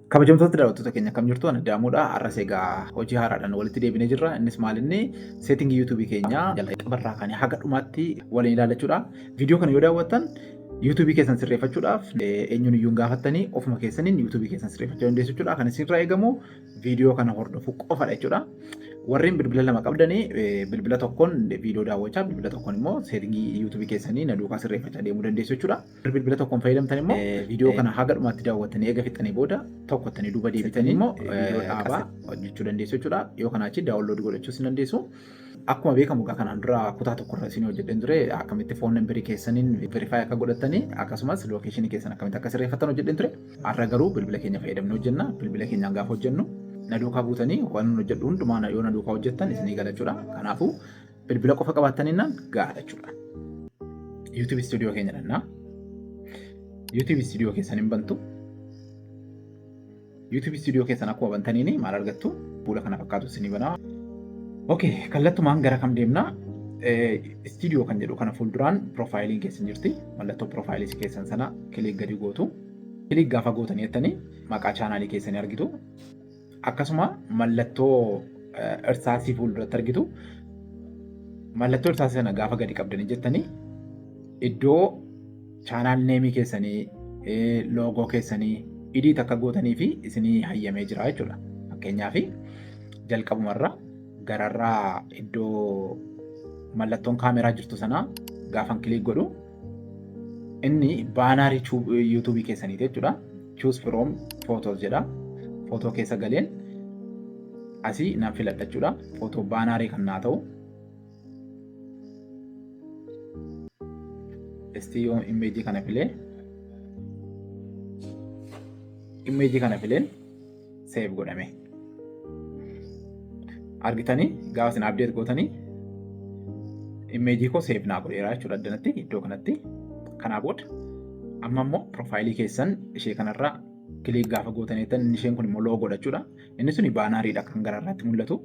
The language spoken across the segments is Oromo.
Kabajamtoota daawwattoota keenya kam jirtu ani daamuudha. Har'as egaa hojii haaraadhaan walitti deebinee jirra. Innis maalinni seetingii yuutuubii keenyaa jalqabarraa kaanii haga dhumaatti waliin ilaallachuudha. Viidiyoo kana yoo daawwattan yuutuubii keessan sirreeffachuudhaaf eenyuun iyyuu hin gaafattanii ofuma keessaniin yuutuubii keessan sirreeffachuu dandeessu jechuudha. Kan isinirraa eegamu viidiyoo kana hordofu qofadha jechuudha. Warreen bilbila lama qabdanii bilbila tokkoon viidiyoo daawwachaa bilbila tokkoon immoo seetingii yuutuubii keessanii na duukaa sirreeffachaa deemuu dandeessu jechuudha. Bilbila tokkoon fayyadamtan immoo viidiyoo kana haga dhumaatti daawwattanii eega fixxanii booda tokkottanii duuba deebitanii immoo viidiyoo dhaabaa hojjechuu dandeessu jechuudha. Yoo kanaa achi daawunloodii godhachuus ni dandeessu. Akkuma beekamu egaa kanaan dura kutaa tokko irra isin hojjedheen ture akkamitti foon nambarii keessaniin verify akka godhattanii akkasumas lookeeshinii keessan akkamitti akka sirreeffattan hojjedheen ture. Har'a garuu bilbila keenya fayyadamnee hojjenna. Bilbila keenyaan gaafa hojjennu na duukaa buutanii waan nun hojjedhu hundumaa na- yoo na duukaa hojjettan isinii gala jechuudha. Kanaafuu bilbila qofa qabaattaninnaan gahaadha jechuudha. YouTube studio keenya dhannaa. YouTube studio keessan hin bantu. YouTube studio keessan akkuma bantaniin maal argattu fuula kana fakkaatu isinii banaa. Ok kallattumaan gara kam deemna? Studio kan jedhu kana fuulduraan piroofaayiliin keessan jirti. Mallattoo piroofaayilii keessan sana kiliik gadi gootu. Kiliik gaafa gootanii jettanii maqaa chaanaalii keessanii argitu. Akkasuma mallattoo irsaasii fuulduratti argitu. Mallattoo irsaasii sana gaafa gadi qabdanii jettanii iddoo Channel name keessanii, logo keessanii edit akka gootanii fi isinii hayyamee jira jechuudha. Fakkeenyaaf jalqabumarra gararraa iddoo mallattoon kaameraa jirtu sanaa gaafan kiliik godhu inni baanaarii yuutuubii keessaniiti jechuudha. Choose from photos jedha. Footoo keessa galeen asii nan filadha jechuudha. Footoo baanaarii kan naa ta'u. Esti yoo immeejii kana filee immeejii kana fileen seef godhame. Argitanii gaafa isin abdeet gootanii immeejii koo seef naa godheera jechuudha addanatti iddoo kanatti. Kanaa booda amma immoo piroofaayilii keessan ishee kanarraa kiliik gaafa gootanii isheen kun immoo loo godhachuudha. Inni suni baanaariidha kan gara irraatti mul'atu.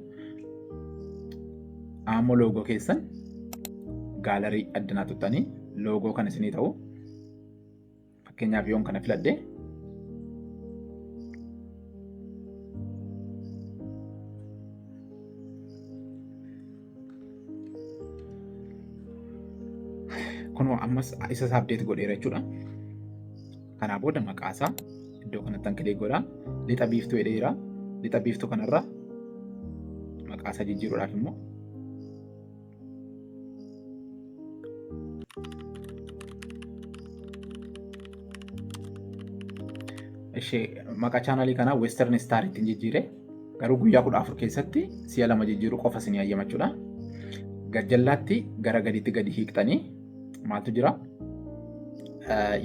Ammoo loogoo keessan gaalarii addanaa tuttanii loogoo kan isinii ta'u. Fakkeenyaaf yoon kana filadhe. Kunoo ammas isa isaa abdeet godheera jechuudha. Kanaa booda maqaa isaa iddoo kanatti an kilik godha. Lixa biiftuu jedheera. Lixa biiftuu kanarra maqaa isaa jijjiiruudhaaf immoo ishee maqaa chaanalii kanaa Western Star ittiin jijjiire garuu guyyaa kudha afur keessatti si'a lama jijjiiruu qofa isin hayyamachuudha. Gajjallaatti gara gadiitti gadi hiiqxanii maaltu jira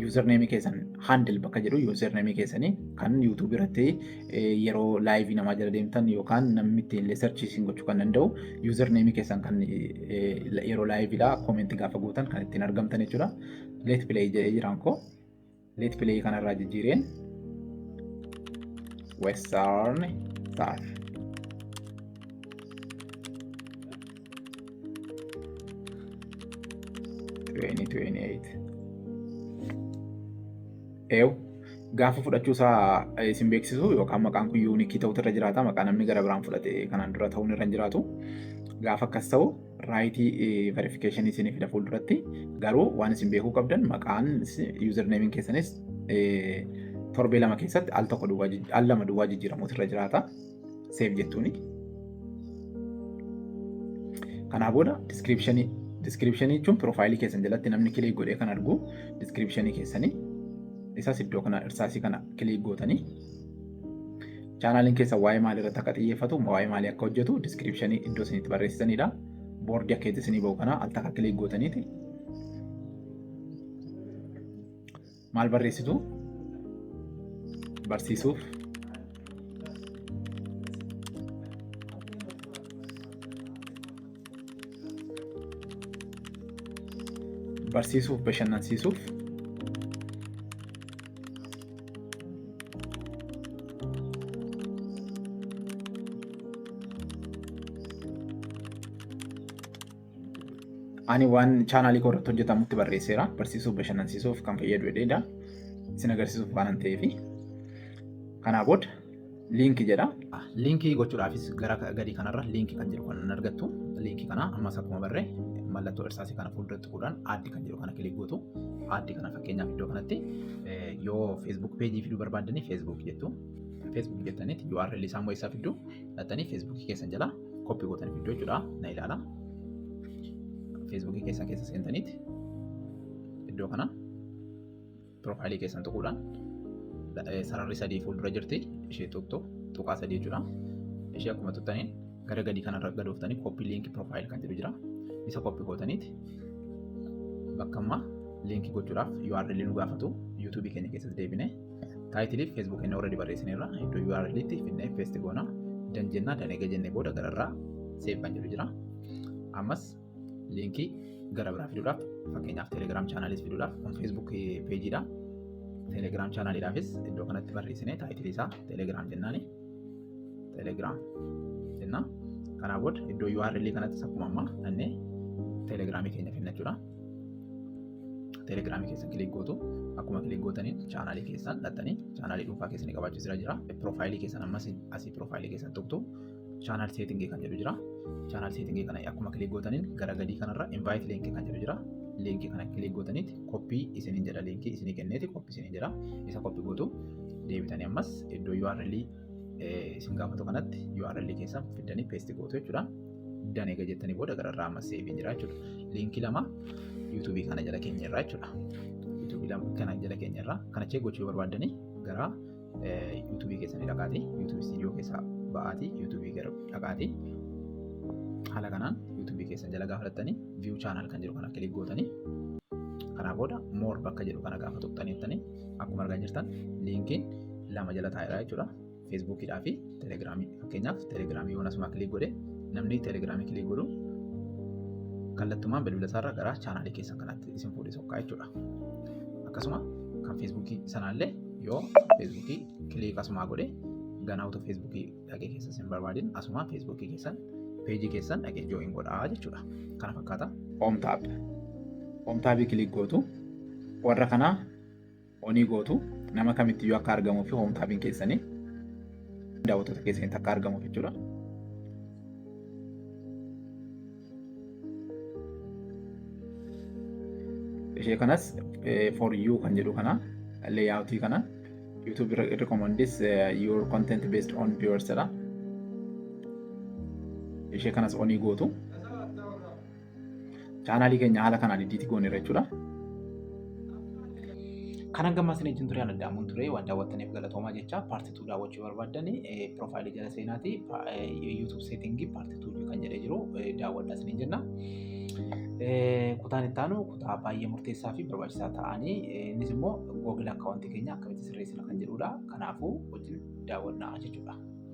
yuuzarneemii keessan handil bakka jedhu yuuzarneemii keessanii kan yuutuubii irratti yeroo laayivii namaa jala deemtan yookaan namni ittiin illee sarchii isin gochuu kan danda'u yuuzarneemii keessan kan yeroo laayiviidha koomentii gaafa gootan kan ittiin argamtan jechuudha. Leet pileey jedhee jiraan koo. Let play kanarraa jijjiireen western ta'a. Twenty twenty eight. Eew gaafa fudhachuu isaa isin beeksisu yookaan maqaan kun yuunikii ta'utu irra jiraata maqaa namni gara biraan fudhate kanaan dura ta'uun irra hin jiraatu gaafa akkas ta'u raayitii verifikeeshinii isinii fida fuulduratti garuu waan isin beekuu qabdan maqaan yuuzar neemiin keessanis torbee lama keessatti al tokko duwwaa jij- al lama duwwaa jijjiiramuutu irra jiraata seef jettuuni. Kanaa booda diskiripshinii diskiripshinii jechuun piroofaayilii keessan jalatti namni kilik godhee kan argu diskiripshinii keessanii isas iddoo kana irsaasii kana kilik gootanii Chaanaaliin keessa waa'ee maalii irratti akka xiyyeeffatu, waa'ee maalii akka hojjetu diskiripshinii iddoo isin itti barreessitanidha. Boordii akka itti isinii ba'u kana al takka kilik gootaniiti. Maal barreessitu? Barsiisuuf. Barsiisuuf bashannansiisuuf. ani waan chaanaalii koo irratti hojjetamutti barreesseera barsiisuuf bashannansiisuuf kan fayyadu jedheedha isin agarsiisuuf waan ta'eef kanaa booda liinki jedha. Liinkii gochuudhaafis gara gadii kanarra liinki kan jedhu kan argattu liinki kana ammas akkuma barre mallattoo irsaasii kana fuuldura tuquudhaan aaddi kan jedhu kana kilik gootu aaddi kana fakkeenyaaf iddoo kanatti yoo feesbuuk peejii fiduu barbaaddanii feesbuuk jettu feesbuuk jettanitti URL isaa immoo eessaa fiddu dhattanii feesbuukii keessan jala koppii gootanii fiddu jechuudha na ilaala feesbuukii keessan keessa seentanitti iddoo kana Piroofaayilii keessan tuquudhaan sararri sadii fuuldura jirti ishee tuqxu tuqaa sadii jechuudha. Ishee akkuma tuqxaniin gara gadii kanarra gad ooftanii kooppii liinkii piroofaayil kan jedhu jira. Isa kooppii gootaniiti bakka ammaa liinkii gochuudhaaf URL nu gaafatu YouTube keenya keessatti deebinee taayitiliif Facebook keenya already barreessineerra iddoo URL itti finnee paste goona danjennaa danee gajennee booda gararraa seef kan jedhu jira. Ammas Liinkii gara biraa fiduudhaaf fakkeenyaaf telegiraam chaanaaliis fiduudhaaf kun feesbuuk peejiidha. Telegiraam chaanaaliidhaafis iddoo kanatti barreessinee taayitilii isaa telegiraam jennaani. Telegiraam jenna. Kanaa booda iddoo URL kanattis akkuma ammaa dhannee telegiraamii keenya finna jechuudha. Telegiraamii keessa kilik gootu akkuma kilik gootaniin chaanaalii keessan dhattanii chaanaalii dhuunfaa keessanii qabaachuu jira. Piroofaayilii keessan ammas asii piroofaayilii keessan tuqtu Channel setting kan jedhu jira. Channel setting kana akkuma kilik gootaniin gara gadii kanarra invite link kan jedhu jira. Link kana kilik gootaniit koppii isiniin jedha linkii isinii kenneeti koppii isiniin jedha. Isa koppii gootu deebitanii ammas iddoo URL isin gaafatu kanatti URL keessan fiddanii paste gootu jechuudha. Danee egaa jettanii booda gararraa ammas seeviin jira jechuudha. Linkii lama YouTube kana jala keenya irraa jechuudha. YouTube kana jala keenya irraa kana chee gochuu barbaaddanii gara yuutuubii keessanii dhaqaati yuutuubii istiidiyoo keessaa ba'aati yuutuubii gara dhaqaati haala kanaan yuutuubii keessan jala gaafa dhattanii viyuu chaanaal kan jedhu kana kilik gootanii kanaa booda moor bakka jedhu kana gaafa tuqxaniittanii akkuma argaa jirtan liinkiin lama jala taa'eera jechuudha feesbuukiidhaa fi telegiraamii fakkeenyaaf telegiraamii yoon asumaa kilik godhe namni telegiraamii kilik godhu kallattumaan bilbila isaarra gara chaanaalii keessan kanatti isin fuudhee sokkaa jechuudha. akkasuma kan feesbuukii sanaallee yoo feesbuukii kiliik asumaa godhe ganaa utuu feesbuukii dhaqee keessa sin barbaadin asumaa feesbuukii keessan peejii keessan dhaqee joo'in godhaa jechuudha kana fakkaata. Omtaab Omtaabii kiliik gootu warra kanaa onii gootu nama kamitti yoo akka argamuu fi omtaabiin keessanii daawwattoota keessanitti akka argamuuf jechuudha. ishee kanas for you kan jedhu kana layout kana YouTube recommends your content based on viewers jedha ishee kanas onii gootu chaanaalii keenya haala kanaan iddiitti gooneera jechuudha. Kan hanga ammaa isiniin ture addaamuun ture waan daawwattaniif galatoomaa jecha paartituu daawwachuu barbaaddan piroofaayilii jala seenaatii yuutuub seetingii paartituu. tuulii kan jedhee jiru daawwadhaa isiniin jenna. Kutaan itti aanu kutaa baay'ee murteessaa fi barbaachisaa ta'anii innis immoo googil akkaawwantii keenya akkamitti sirreessina kan jedhudha. Kanaafuu wajjin daawwannaa jechuudha.